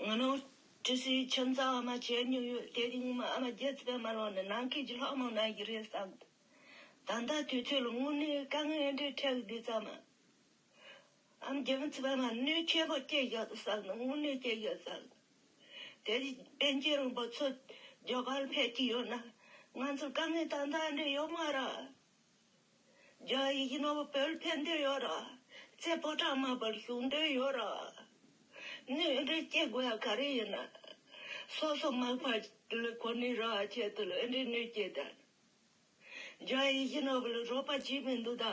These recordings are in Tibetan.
ང་ནོར་ཀྲི་སིའི་ཁྱིམ་ཚང་ཨ་མ་བྱེད་མྱོང་ཡོད་དེ་རིང་མི་ཨ་མ་རྒྱལ་ཚེ་པའི་མ་ལོག་ནས་ནང་ཁུལ་གྱི་ལྷག་མ་ང་ཡི་རེད་བསམ། ད་ལྟ་དུས་ཚོད་ལ་དངོས་གནས་དཀའ་ངལ་འདྲེས་འཕྲལ་འདི་ཙམ་མ་ཨ་མ་རྒྱལ་ཚེ་པའི་མ་གནོད་ཆེན་པོ་སྐྱེས་ཡོད་བསམ་ནི་དངོས་གནས་སྐྱེས་ཡོད་བསམ། དེ་རིང་བན་རྒྱལ་རོང་པོ་ཚོ་རྒྱ་གར་ཕེབས་ཀྱི་ཡོད་ན་ང་ཚོར་དཀའ་ངལ་དང་འདྲ་འདྲེས་ཡོད་མ་ར། རྒྱ་ཡི་ཡིན་ནོ་བོད་ཕན་འདོད་ཡོད་ར། ཚེ་ཕོ་བྲང་མ་བར་བཞུགས་འདོད་ཡོད་ར། ནུས་རེ་སྐྱེ་དགོས་ཡ་ག་རེ་ཡིན། སོ་སོ་མ་བར་ལུས་ཁོ་ནའི་ར་ཁྱེད་དུ་ལོས་འདྲེ་ནུས་སྐྱེ་དར། རྒྱ་ཡི་ཡིན་ནོ་བོད་རོ་པ་གྱིས་མི་འདུག་ད།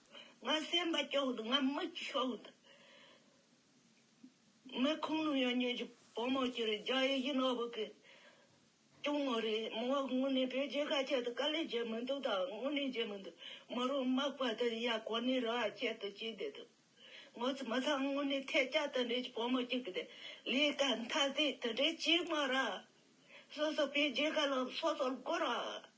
ང་སེམས་པ་སྐྱོ་འདུག་ང་མིག་ཆུ་འདུག། མི་ཁུངས་ནུས་ཡོད་ཉོན་ཅིག་བུ་མོ་ཁྱེད་རང་རྒྱ་ཡི་ཡིན་ནོ་བུ་གི་གཅུང་མོ་རེད་མོ་དངོས་གནས་བོད་རྒྱའི་ཁ་ཆད་དུ་དཀའ་ལས་བྱེད་མི་འདུག་ད་དངོས་གནས་བྱེད་མི་འདུག་མོ་རང་དམག་པ་དེ་ཡ་གོ་ནས་ར་ཁྱད་དུ་བྱེད་བསྡད་འདུག་ངོ་ཚ་མི་ཚང་དངོས་གནས་ཐལ་སྐྱ་དེ་འདྲས་ཀྱི་བུ་མོ་ཁྱེད་ཀྱི་ལས་ཀ་མཐའ་ཟད་དེ་འདྲས་བྱེད་མ་ར། སོ་སོ་བོད་རྒྱའི་ཁ་ལ་སོ་སོ་དགོ་ར།